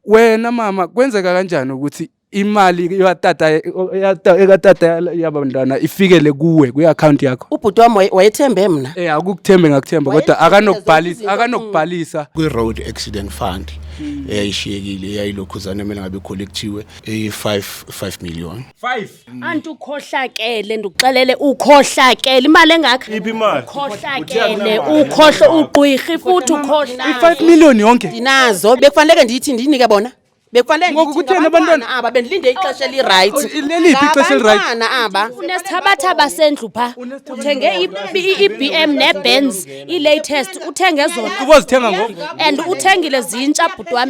wena mama kwenzeka kanjani ukuthi imali katata ekatata yabantwana ifikele kuwe kwi-akhawunti yakho ubhuti wam wayethembe mna um akukuthembe ngakuthemba kodwa akanokubhalisa akanokubhalisa kwi-road accident fund hmm. eyayishiyekile eyayilokhuzane emele ngabe kholekhthiwe eyi-five five million five Mm. anti ukhohlakele ndikuxelele ukhohlakele imali engakho iphi imali ukhohlakele ukhohlo ugqwirhi futhi ukhohlakele i-five million yonke ndinazo bekufaneleke ndiyithi ndiyinike bona bekufanelengoko kutheni abantwana aba bendilinde ixesha elirayithi oh, leliphi ixesha elirayithi aba unesithabathaba sendlu pha uthenge i-b m nebenz i-latest uthenge zona ubozithenga ngoku and uthengile zintsha bhuti wam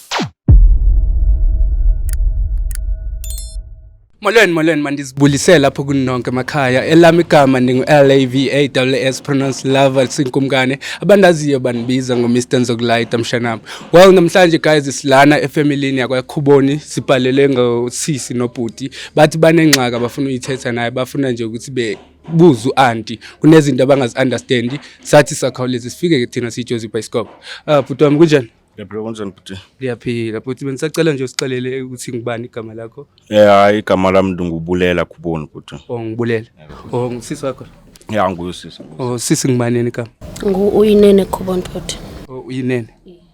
Molweni molweni mandizibulisele apho kunonke emakhaya elam igama ndingu-LAVAWS pronounce lover sinkumkane abandaziyo bandibiza ngomr nzokulayita mshanam well namhlanje guys silana efemilini yakwakhuboni sibhalele ngosisi nobhuti bathi banengxaka bafuna uyithetha naye bafuna nje ukuthi be buza u-anti kunezinto abangazi-understandi sathi sakhawuleza sifike ke thina siyijozi ibhayisikobho um uh, bhuti wami kunjani Yabhilo kunjani bhuti? Ndiyaphila bhuti, bendisacela nje usixelele ukuthi ngubani igama lakho. Eh hayi igama lam ndingubulela khuboni bhuti. Oh ngibulela. Oh ngusisi wakho. Ya nguye usisi. Oh sisi ngibanini igama? Ngu uyinene khuboni bhuti. Oh uyinene.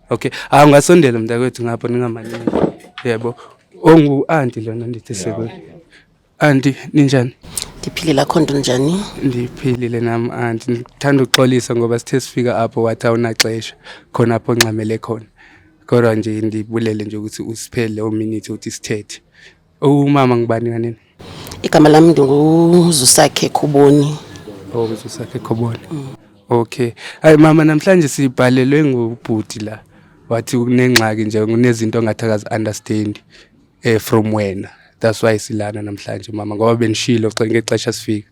Okay. Ah ungasondela mntakwethu ngapha ningamanini. Yebo. Oh ngu aunti lona ndithi sekwe. Anti, ninjani? Ndiphilile, akho nto njani? Ndiphilile nam anti. Ndithanda uxolisa ngoba sithe sifika apho wathi awunaxesha khona apho ongxamele khona. Kodwa nje ndibulele nje ukuthi usiphele ominithi uthi sithethe. Umama ngubani kanini? Igama lam ndinguzusakhe Khuboni. Oh, uzusakhe Khuboni. Mm. Okay. Hayi mama namhlanje sibhalelwe ngubhuti la. Wathi unengxaki nje unezinto ongathi akazi understand. eh, from wena that's why silana namhlanje mama ngoba benishilo xa ngexesha sifika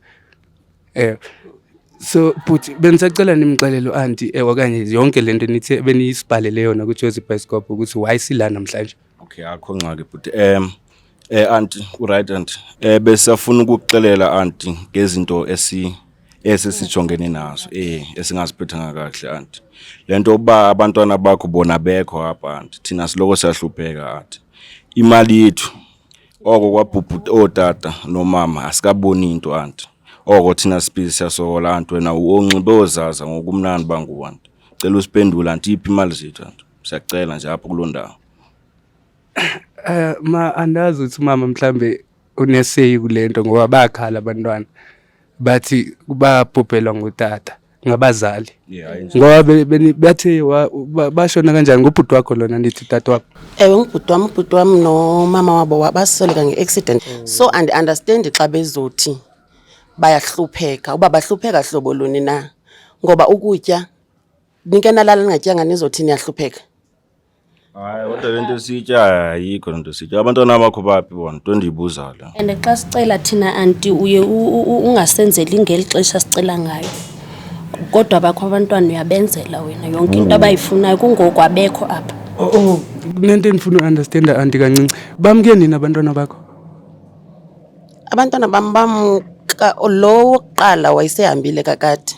eh so bhuti bendisacela nimxelele uanti eh, okanye yonke le nto nithe beniyisibhalele yona kwijozi bhayisikophu ukuthi why sila namhlanje okay akho ngxaki bhuti um eh anti uright anti eh besafuna ukuxelela anti ngezinto esi esi sijongene naso eh esingaziphathanga kahle anti lento uba abantwana bakho bona bekho apha anti thina siloko siyahlupheka anti imali yethu oko kwabhubhuta ootata nomama asikaboni into anti oko thina siphili siyasokola anti wena uonxibe ozaza ngokumnandi bangu anti cela usiphendula anti iphi imali zethu anti siyacela nje apho kuloo ndawo eh ma andazi uthi mama mhlambe uneseyi kule nto ngoba bakhala abantwana bathi babhubhelwa ngutata ngabazali ngoba bathe bashona kanjani ngubhuti wakho lona ndithi tata wakho ewe ngubhuti wam ubhuti wam nomama wabo basweleka nge-accident so andiunderstandi xa bezothi bayahlupheka uba bahlupheka hlobo luni na ngoba ukutya nike nalala ningatyanga nizothi niyahlupheka hayi kodwa le nto esitya ayikho le nto esitya abantwana bakho baphi bona nto endiyibuzayo le and xa sicela thina anti uye u- u- u- ungasenzeli ngeli xesha sicela ngayo kodwa bakho abantwana uyabenzela wena yonke into abayifunayo kungoku abekho apha Oh, oh, kunento endifuna uunderstanda anti kancinci bamke nini abantwana bakho abantwana bam bamka lo wokuqala wayesehambile kakade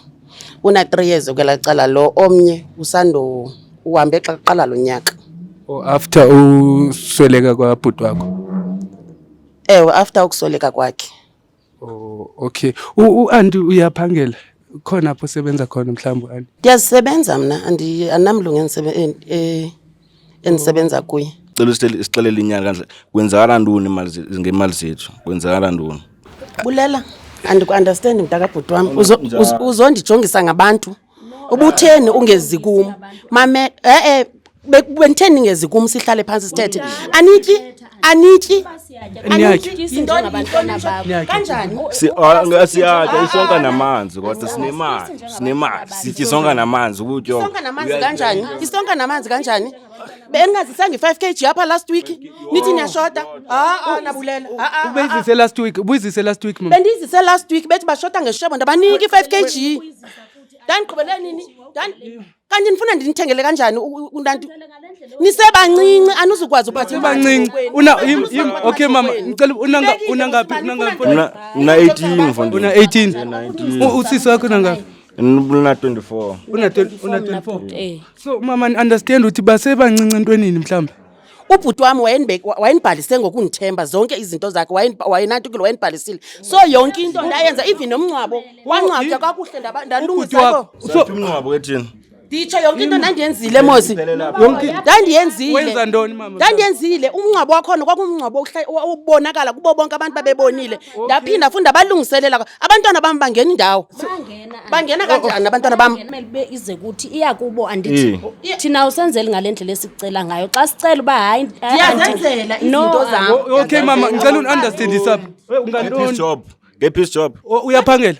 Una-three years ukwelaa cala lo omnye usando uhambe xa kuqala lo nyaka. Oh, after usweleka kwabhuti wakho? Ewe, after ukusweleka kwakhe. Oh, okay. U-anti uyaphangela? Khona apho usebenza khona mhlawumbi u-anti? Ndiyazisebenza mna, andinamlungu e, e, endisebenza kuye cela usixelele inyanga kanje kwenzakala ntoni ngemali zethu kwenzakala ntoni bulela andikuunderstand mntakabhuti wam uzondijongisa ngabantu ubutheni ungezi kum mame e-e benditheni ingezi kum sihlale phantsi sithethe anityi anityi kanjani siyatya ah, isonka namanzi kodwa sinemali sinemali sitya isonka namanzi ukutyo kanjani isonka namanzi kanjani beningazisanga i-five k g apha last week nithi niyashota aa nabulela ubeyizise last week ubuyizise last week bendiyizise last week bethi bashota ngeshebo ndabanika i-five k g ndandiqhubele nini kanti ndifuna ndinithengele kanjani unanti nisebancinci anizukwazi ubasebancinci okay mama ndicela unangaphi una 18 mfondini una 18 usisi wakho unangaphi una 24 una 24 so mama understand ukuthi basebancinci entwenini mhlawumbi ubhuti wam wayenibhalise ngokundithemba zonke izinto zakhe wayenatukile wayenibhalisile so yonke into ndayenza even nomngcwabo wangcwatywa kakuhle ndalungisaumngcwabo ethini nditsho yonke into ndandiyenzile mosi ndandiyenzile ndandiyenzile umngcwabo wakhona kwakumngcwabo obonakala kubo bonke abantu babebonile ndaphinda futhi ndabalungiselela abantwana bam bangena indawo bangena oh, oh. kanjani abantwana bam ube ize kuthi iya kubo andithi eh. thina usenzeli ngale ndlela esicela ngayo xa sicela uba hayi ndiyazenzela izinto zam okay mama ndicela undiunderstandisa eh, ungantojob ngephis job uyaphangela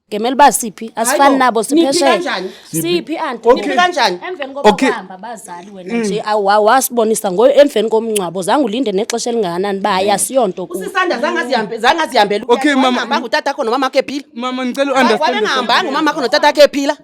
ngemele uba siphi asifani nabo siphesheya siphi antiiphi kanjani emveni kokuhamba bazali wena mm. nje wasibonisa ngoyo emveni komngcwabo zange ulinde nexesha elingakanani uba hayi asiyonto usisanda zangazihambela okay mama ngutata kho nomama khe phila mama ndicela uunderstand wabengahambanga umama kho notata khe phila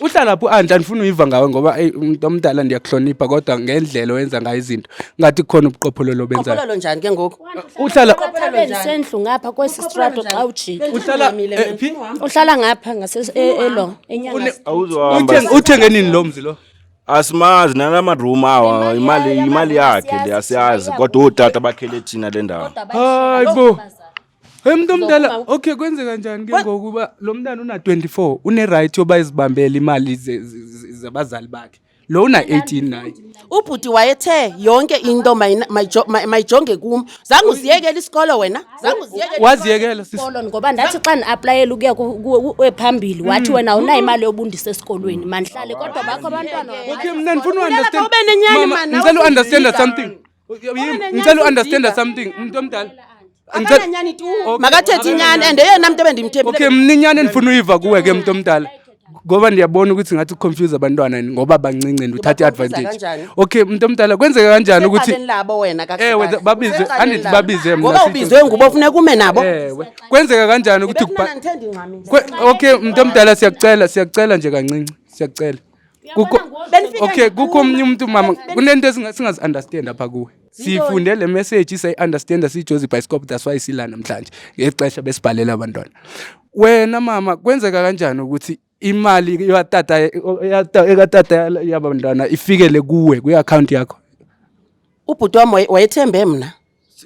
uhlala phi andla ndifuna uyiva ngawe ngoba eyi umntu omdala ndiyakuhlonipha kodwa ngendlela owenza ngayo izinto ngathi khona ubuqophololo obenzayo Qophololo njani ke ngoku? uhlala Qophololo njani? sendlu ngapha kwesi strato xa ujika uhlala Uhamile eh, mina. phi uhlala ngapha ngase- e- elo enyanga Une- awuzohamba Uthenge- uthenge nini lo mzi lo asimazi nala madroom awa imali imali yakhe le asiyazi kodwa ootata bakhele thina le ndawo hayi bo Hey mntu omdala, Uzokuma- okay kwenzeka njani ke What? ngoku uba lo mntana una-24 unerayithi yoba izibambele imali ze- ze- ze- zabazali bakhe lo una-18 naye ubhuti wayethe yonke into mayina- mayijo- ma- mayijonge kum zange uziyekele isikolo wena zange uziyekele waziyekela sisi Kolon, ngoba ndathi xa ndiaplayela ukuya ku- ku- ku- phambili wathi wena awunayo imali yobundisa esikolweni mandihlale kodwa bakho abantwana okay mna ndifuna Funeka uunderstand ube nenyani, Mama, man, ndicela awuzi- uunderstanda something ngicela uunderstanda something mntu omdala akananyani tu makathethi inyani and eyona mntu ebendimthembile okay mna inyani endifuna uyiva kuwe ke mntu omdala ngoba ndiyabona ukuthi ngathi uconfuse abantwana ngoba bancinci and uthatha i-advantage okay mntu omdala kwenzeka kanjani ukuthi ewe babize andithi babize mna ubizwe ngubo funeka ume nabo ewe kwenzeka kanjani ukuthi okay mntu omdala siyakucela siyakucela nje kancinci siyakucela okay kukho omnye umntu mama kunento singazi-understand apha kuwe sifunde le message sayi-understanda siyijozi ibhayisikop that's why sila namhlanje ngexesha besibhalela abantwana wena mama kwenzeka kanjani ukuthi imali yatata ekatata yabantwana ifikele kuwe kwi-akhawunti yakho ubhuti wam wayethembe mna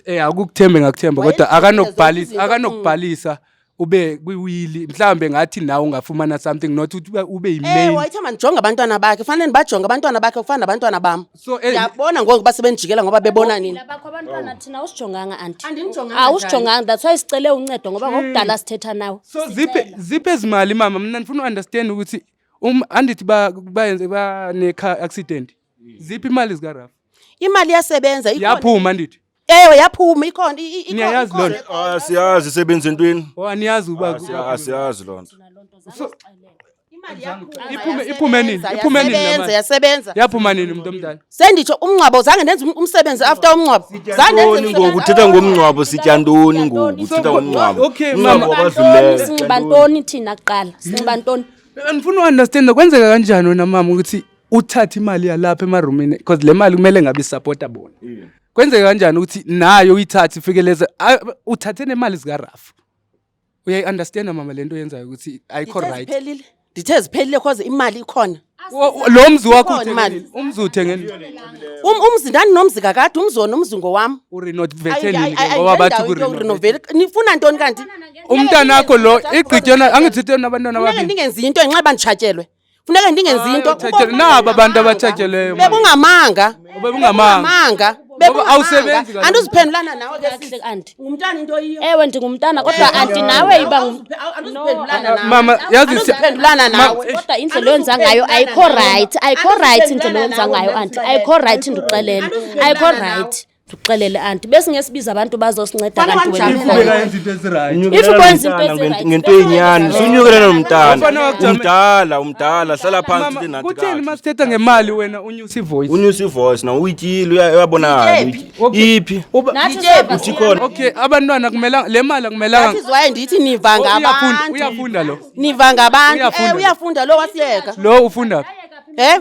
Eh akukuthembe ngakuthemba kodwa Wayezibukela zonke akanokubhalisa izinto, akanokubhalisa ube kwiwili mhlawumbe ngathi nawe ungafumana something not ukuthi ube- ube Eh yimain wayethi mandijonge abantwana bakhe fanele ndibajonge abantwana bakhe kufana nabantwana bam so eh, ndiyabona ngoku uba sebendijikela ngoba bebona nini Phila bakho abantwana thina awusijonganga anti Andinijonganga awusijonganga that's why sicele uncedo ngoba ngokudala sithetha nawe so ziphe ziphe ezimali mama mna ndifuna uunderstand ukuthi um andithi ba bayenze banekha accident Ziphi imali zika Rafa? Imali yasebenza ikhona. Yaphuma ndithi. Ewe yaphuma ikhona i- i- Niyayazi ikhona. loo nto? Ah, siyazi isebenza entweni Oh aniyazi uba Ah, siya- ah, siyazi loo nto So- Imali yaphuma, Iphume- yasebenza, iphume nini? Iphume nini le yasebenza, mali? yasebenza. yaphuma nini mntu omdala? Senditsho umngcwabo zange ndenze um- umsebenzi after umngcwabo. Zange ndenze ntoni ngoku umsebenzi. uthetha ngomngcwabo sitya ntoni ngoku So, uthetha what- ngomngcwabo okay, Umngcwabo mama. wabazuleyo. sinxiba ntoni thina kuqala sinxiba ntoni Andifuni uunderstanda kwenzeka kanjani wena mama ukuthi uthathe imali yalapha emarumini because le mali kumele ngabe isapota bona yeah. kwenzeka kanjani ukuthi nayo uyithathe ifikeleze uthathe nemali zikarafu uyayi-understanda mama le nto yenzayo ukuthi ayikho right ndithe ziphelile cause imali ikhona lo mzi wakho umzi uthengeni um, umzi ndandinomzi kakade umzi wona umzi ngowam nifuna ntoni kanti umntanakho lo igqityona angithitheni abantwana ababini ndingenzi into ngenxa yoba nditshatyelwe funeka ndingenzi into Abathathe- naba abantu abathathelweyo mama. bekungamanga Bekungamanga. Ngoba awusebenzi kaloku. andiziphendulana nawe ke Kakuhle, sisi. aunty. ngumntana into yiyo ewe ndingumntana kodwa anti nawe iba ngu- andiziphendulana nawe mama yazi si- andiziphendulana nawe kodwa indlela oyenza ngayo ayikho rayithi ayikho rayithi indlela oyenza ngayo anti ayikho rayithi ndixelele ayikho rayithi ndikuxelele anti besingesibiza abantu bazosinceda ngento yenyani sunyukelele nomntana umdala umdala hlala phantsi kutheni ma sithetha ngemali wena unyusa ivoice unyusa ivoice na uyityile uyabonakala iphi uthi khona okay abantwana kumela le mali akumelanga iziwaye ndithi niva oh, ngabantu uyafunda lo niva ngabantu eh, uyafunda lo wasiyeka lo ufunda phi eh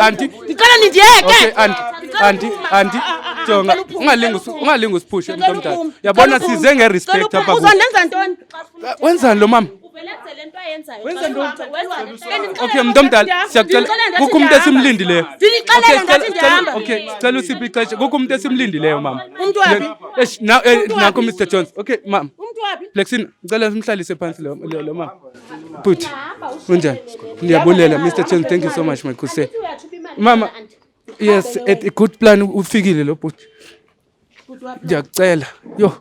anti ndicela nindiyeke anti anti jonga ungalingi ungalingi usiphushe umntu omdala yabona size ngerespect apha uzondenza ntoni wenzani lo mama okay mntu omdala siyakucela kukho umntu esimlindileyo okay sicela usiphi ixesha kukho umntu esimlindileyo mama eh, nakho mr jones okay mama flexin ndicela simhlalise phantsi lo mama Put. Unja. Ndiyabulela Mr. Chen, thank you so much my good sir. Mama. Yes, a good plan ufikile lo bhuti. Ndiyakucela. Yo.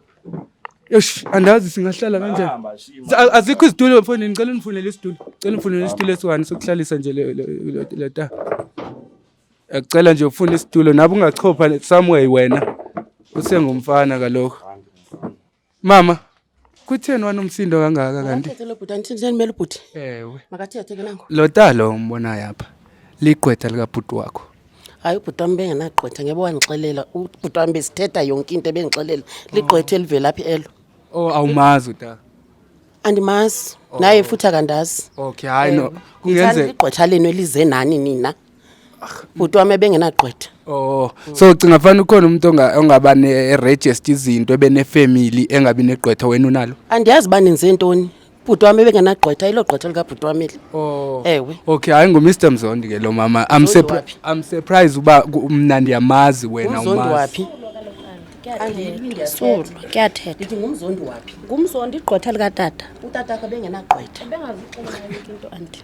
Yosh, andazi singahlala kanjani. Azikho izitulo mfowethu, ngicela unifunele isitulo. Ngicela unifunele isitulo esiwani sokuhlalisa nje le le ta. Ngicela nje ufune isitulo, nabe ungachopha somewhere wena. Usengumfana kalokho. Mama, kutheni wanomsindo kangaka kanti? Ewe. Lo talo umbonayo apha ligqwetha likabhuti wakho. Hayi ubhuti wam bengenagqwetha ngebe wandixelela. Ubhuti wam besithetha yonke into ebendixelela. Ligqwetha elivela phi elo? Oh awumazi utata. andimazi oh. naye futhi akandazi okay hayi no kungenzeka igqwetha lenu elize nani nina bhuti wami ebengenagqwetha oh so ucinga fanele ukhona umuntu ongaba ne-register izinto ebenefamily engabi negqwetha wena unalo andiyazi uba nenze ntoni bhuti wami ebengenagqwetha ilo gqwetha likabhuti wami eli oh. ewe okay hayi ngumr mzondi ke lo mama i'm surprised uba mna ndiyamazi wena umazi Sulu, kuyathetha. Ndithi ngumzondi waphi? Ngumzondi igqwetha likatata. Utata akho bengenagqwetha.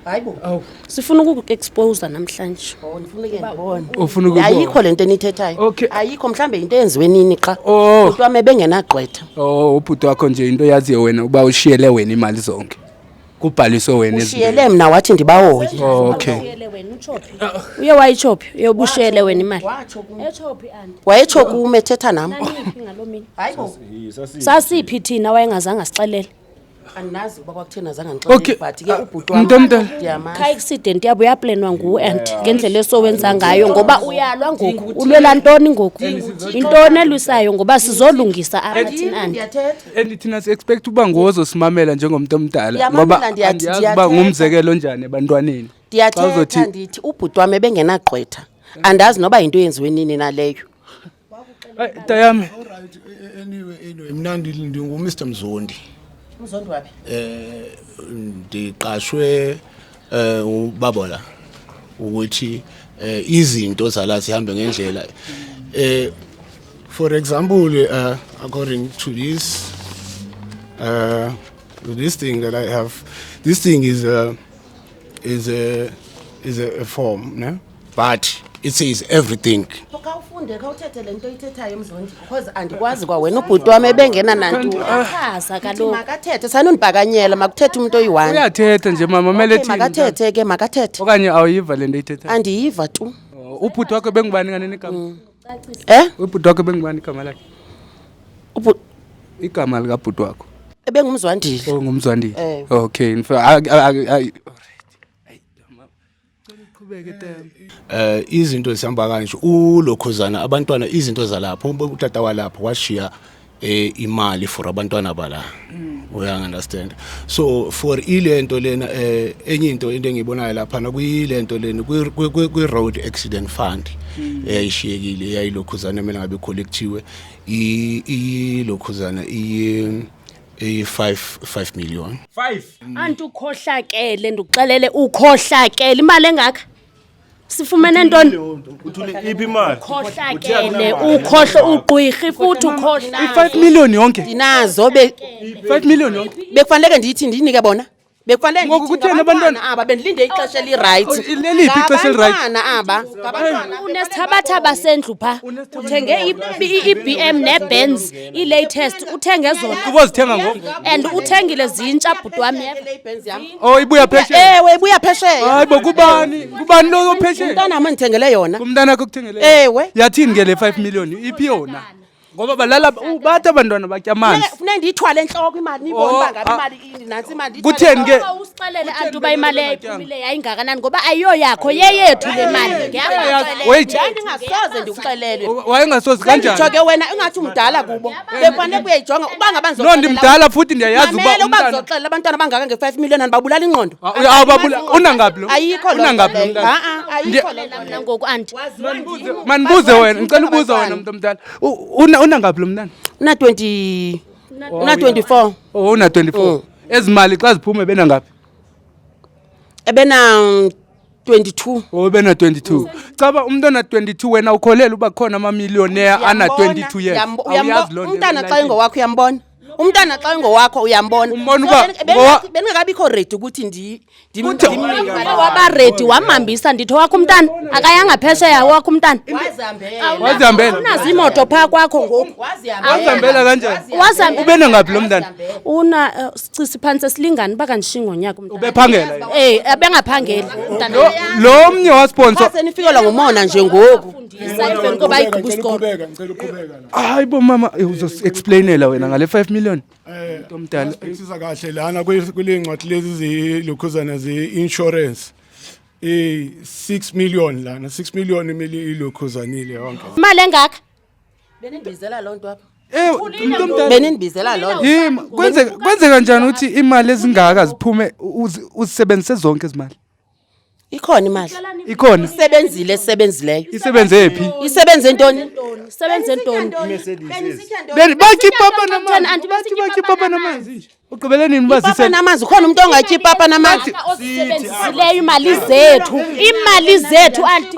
Hayi bo. Awu. Sifuna ukukuexposa namhlanje. Oh, ndifuna ke ndibone. Ufuna ukubona. Ayikho lento enithethayo. Okay. Ayikho mhlambe into eyenziwe nini xa. Oh. Kuthiwa mebengenagqwetha. Oh, ubhuti wakho nje into yaziyo wena uba ushiyele wena imali zonke. kubhaliswe wena ushiyele mna wathi ndibahoye oh, okay uye wayitshophi uye ubushiyele wena imali wayetsho kum ethetha nam sasiphi thina wayengazange asixelele andinazi uba kwakutheni azange ndixelele but ke ubhuti wam kha accident yabo uyaplenwa nguwe and ngendlela esowenza ngayo ngoba uyalwa ngoku ulwela ntoni ngoku intoni elwisayo ngoba sizolungisa abathini andi and thina si-expect uba ngozosimamela njengomntu omdala ngoba andiyazi uba ngumzekelo onjani ebantwaneni ndiyathetha ndithi ubhuti wam ebengenagqwetha andazi noba yinto yenziwe nini naleyo tayam e, e, anyway anyway mna ndingumr mzondi mzondi waphi um ndiqashwe eh ubabola ukuthi eh, izinto zala zihambe ngendlela eh for example uh, according to this uh, this thing that I have this thing is a is a is a, a form ne but it says everything khawufunde khawuthethe le nto ithethayo emzondi because andikwazi kwa wena ubhuti wam ebengena nantu achaza kaloku makathethe sanundibakanyela makuthethe umntu oyi-one uyathetha nje mama mele Okay, makathethe ke makathethe okanye awuyiva le nto ithethayo andiyiva tu Oh, ubhuti wakho bengubani kanene igama um ubhuti wakho bengubani igama lakhe Ubhu- igama likabhuti wakho ebengumzwandile ongumzwandile Oh, Ewe. okay in fact, I- I- I- I- Eh izinto zihamba kanje ulokhuzana abantwana izinto zalapho utata walapho washiya eh imali for abantwana bala mm. uya understand so for ilento lena eh enye into into engibonayo lapha na kuyilento lena kwi road accident fund mm. eyayishiyekile yayilokhuzana mina ngabe collectiwe ilokhuzana i iyi-5 million five anti ukhohlakele ndikuxelele ukhohlakele imali engaka sifumene ntoni uthule iphi imali ukhohlakele ukhohla ugqwirhi futhi ukhohlakele i-five million yonke ndinazo be five million yonke bekufaneleke ndiyithi ndiyinike bona Bekwale Ngoku ndithi kutheni abantwana- ngabantwana aba bendilinde ixesha elirayithi. Oh, leliphi ixesha elirayithi? Ngabantwana aba. Ngabantwana aba. unesithabathaba sendlu pha uthenge i- i- i-bm nebenz ii-latest uthenge zona Ubozithenga ngo- and uthengile zintsha bhuti wam Oh ibuya phesheya. Ewe ibuya phesheya. Hayi bo kubani? Kubani lo ophesheya? Umntana mandithengele yona. Kumntana akho kuthengele. Ewe. Yathini ke le 5 million? Iphi yona? ngoba balala u- bathi abantwana batya amanzi funeka ndiyithwale entloko imali niyibone Oh, uba ngabe ah. imali ini nantsi imali ndiyithwale kutheni ke Uba usixelele anti uba imali eyayiphumile yayingakanani ngoba ayiyoyakho yeyethu le mali Wait. Yayi, ndingasoze ndikuxelele wayengasozi kanjani nditsho ke wena ingathi umdala kubo bekufanele kuyayijonga uba ngaba no ndimdala futhi ndiyayazi uba mamela uba umntana ndizoxelela abantwana abangaka nge-five million andibabulala ingqondo Ah, uya- awubabula- unangaphi lo ayikho loo nto Unangaphi lo leyo. mntana? Ha-a, ayikho Ndiya- loo nto. mna ngoku andi mandibuze wena ndicela ubuza wena mntu omdala unangaphi lo mntana una-twenty una-twenty-four oh una-twenty-four mm. ezi mali xa ziphume benangaphi ebena 22 oh bena 22 cha ba umuntu ona 22 wena ukholela uba khona ama millionaire ana 22 years umntana xa engowakho uyambona umntana xa engowakho uyambona Umbona uba So, ben- ngowa- ben- bendingekabikho redi ukuthi ndi- ndim- Kuthi- ndim- Umntana ndim- waba redi wamhambisa ndithi owakho umntana akayanga phesheya owakho umntana wazihambela unazo imoto phaa kwakho ngoku wazihambela kanjani Wazihambela. ube nangaphi lo mntana una eh, sicisi phantsi esilingani uba kandishiyi ngonyaka umntana ubephangela yena. um abengaphangeli umntana Lo- lo mnye wasponsa Xa senifikelwa ngumona nje ngoku emveni koba igqiba isikolo Ngicela uqhubeka, ngicela uqhubeka. hayi bo mama eh, uzoexplainela wena ngale 5 million eh, mntu omdala siza kahle lana kule ncwadi lezi zilokhuzana ze-insurance eh 6 million lana 6 million imele ilokhuzanile yonke imali engaka benindibizela loo nto apha Eh, benindibizela loo kwenzeka njani ukuthi imali ezingaka ziphume uzisebenzise zonke izimali ikhona imali ikhona isebenzile esebenzileyo isebenze phi isebenze ntoni isebenze ntoni Beni- batya ipapa namanzi Anti, batya batya batya ipapa ipapa namanzi nje ugqibele nini uba papa zise namanzi ukhona umntu ongatyi ipapa namanzi osebenzisileyo imali zethu imali zethu anti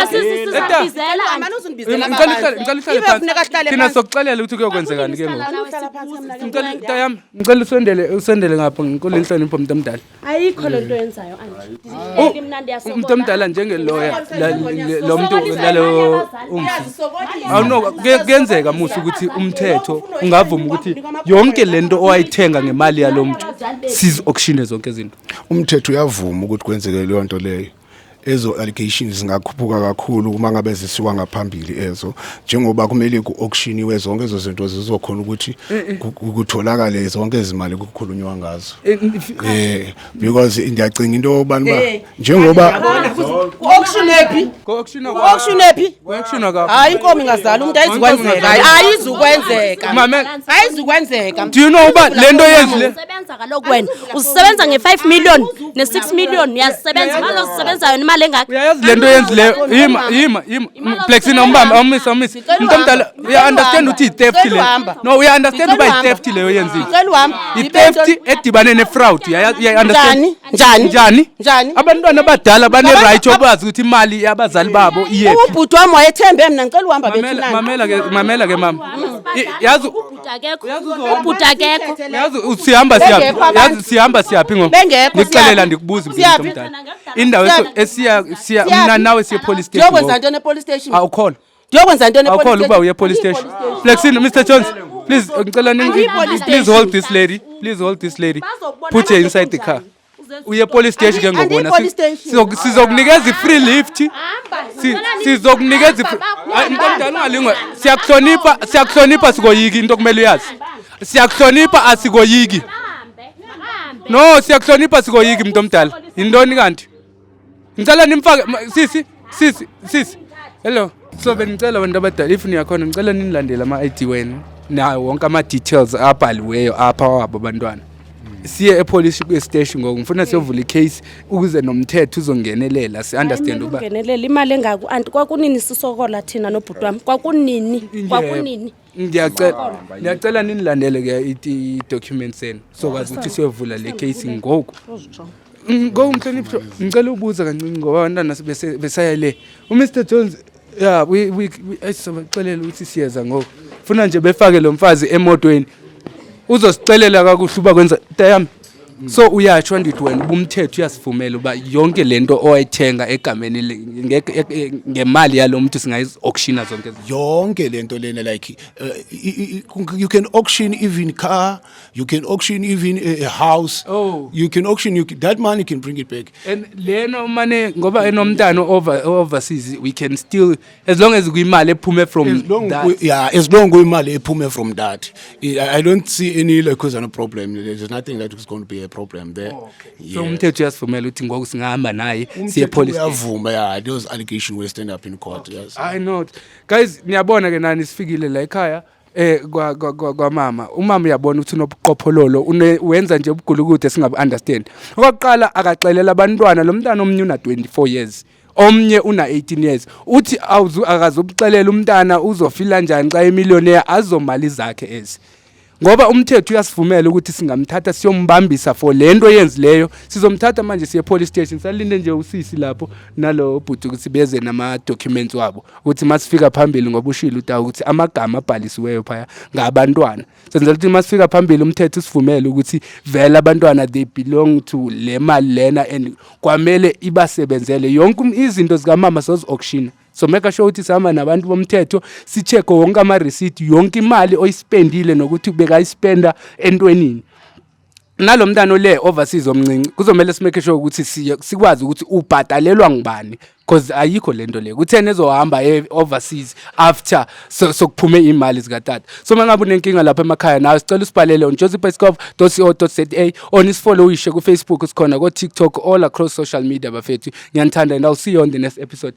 asizizizabizela thina sokuxelela ukuthi kuyokwenzekani ke ngokuam ngicela usondele usondele ngapha ngikule nhlonipho mntu omdala ayikho le nto yenzayo umntu omdala njengeloya lo mntu lalo kuyenzeka musa ukuthi umthetho ungavuma ukuthi yonke le nto owayithenga ngemali yalo mntu sizi-auctione zonke izinto umthetho uyavuma ukuthi kwenzeke leyo nto leyo ezo allegations zingakhuphuka kakhulu uma ngabe zisiwa ngaphambili ezo njengoba kumele ku-auctioniwe zonke ezo zinto zizokhona ukuthi kutholakale zonke izimali kukhulunywa ngazo eh, eh because ngiyacinga into yobani ba njengoba ku-auction ephi ku-auction ephi hayi inkomo ingazala umntu ayizukwenzeka hayi ayizukwenzeka ayizukwenzeka do you know uba le nto yenzile usebenza kaloku wena uzisebenza nge-five million ne-six million uyazisebenza imali ozisebenzayo nemali engaka uyayazi le nto yenzileyo yima yima yima plexin awumbambe awumise awumise umntu omdala uya-understand ukuthi yi-theft leyo no uya-understand uba yi-theft leyo yenzile yitheft edibane nefraud uyayi-understand njani njani njani abantwana abadala baneright yobazi ukuthi imali yabazali babo iyephi ubhuti wami wayethembe mna ngicela uhamba mamela mamela ke mamela ke mama yazi ubhuti akekho yazi sihamba siyaphi yazi sihamba siyaphi ngo ndikuxelela ndikubuza impilo mdala indawo esiya siya mna nawe siye police station yokwenza ntoni epolice station awukholwa ndiyokwenza ntoni awukhona ukuba uye police station flexin mr jones please ngicela please hold this lady please hold this lady put her inside the car uye police station ke ngoku wena sizokunikeza i-free lift sizokunikeza mntu omdala ungalingwe siyakuhlonipha siyakuhlonipha sikoyiki into okumele uyazi siyakuhlonipha asikoyiki no siyakuhlonipha sikoyiki mntu omdala yintoni kanti Ngicela nimfake sisi sisi sisi. Hello. So benicela abantu abadala if niyakhona ngicela ninilandele ama ID wenu nawo wonke ama details abhaliweyo apha wabo abantwana. Siye epolice station ngoku ngifuna siyovula icase ukuze nomthetho uzongenelela si understand uba Ungenelela imali engaku anti kwakunini sisokola thina nobhuti wami. Kwakunini? Kwakunini? ndiyacela ndiyacela ninilandele ke i-document senu sokwazi ukuthi siyovula le case ngoku ngoku mhlonipho ngicela ubuza kancinci ngoba abantwana besaya le umr jones ya sizobaxelela ukuthi siyeza ngoku funa nje befake lo mfazi emotweni uzosicelela kakuhle uba kwenza tayami so uyatsho ndithi wena ubumthetho uyasivumela uba yonke le nto owayithenga egameni ngemali yalo mntu singayi-auctiona zonke yonke le nto lena like uh, you can auction even car you can auction even a house oh. you can auction you can, that money can bring it back and lena umane ngoba enomntana overseas we can still as long as kuyimali ephume from as long that. Ku, yeah as long kuyimali ephume from that I, i don't see any like cause no problem there's nothing that is going to be a problem there oh, okay. yes. so umthetho uyasivumela uthi ngoku singahamba naye siye police uyavuma yeah those allegation will stand up in court okay. yes i know guys niyabona ke nani sifikile la ekhaya eh kwa kwa, kwa, kwa mama umama uyabona ukuthi unobuqophololo wenza nje ubugulukude singabu understand okwaqala akaxelela abantwana lomntana omnyuna 24 years omnye una-18 years uthi akazubuxelela umntana uzofila njani xa emiliyonea azomali zakhe ezi ngoba umthetho uyasivumela ukuthi singamthatha siyombambisa for le nto yenzileyo sizomthatha manje siye police station salinde nje usisi lapho nalo bhuti ukuthi beze nama-documents wabo ukuthi masifika phambili ngoba ushile utawu ukuthi amagama abhalisiweyo phaya ngabantwana senzela ukuthi uma sifika phambili umthetho usivumele ukuthi vele abantwana they belong to le mali lena and kwamele ibasebenzele yonke um, izinto zikamama sozi-auctiona so make sure ukuthi sihamba nabantu bomthetho sicheke wonke amareceipt yonke imali oyispendile nokuthi bekayispenda entwenini nalo mntana ole overseas omncinci kuzomele simake sure ukuthi sikwazi ukuthi ubhadalelwa ngubani because ayikho le nto le kutheni ezohamba e-overseas after sokuphume so imali zikatata so uma ngabe unenkinga lapha emakhaya nawe sicela usibhalele on joseph escov co za or nisifolowishe kufacebook sikhona kotiktok all across social media bafethu ngiyanithanda and i'll see you on the next episode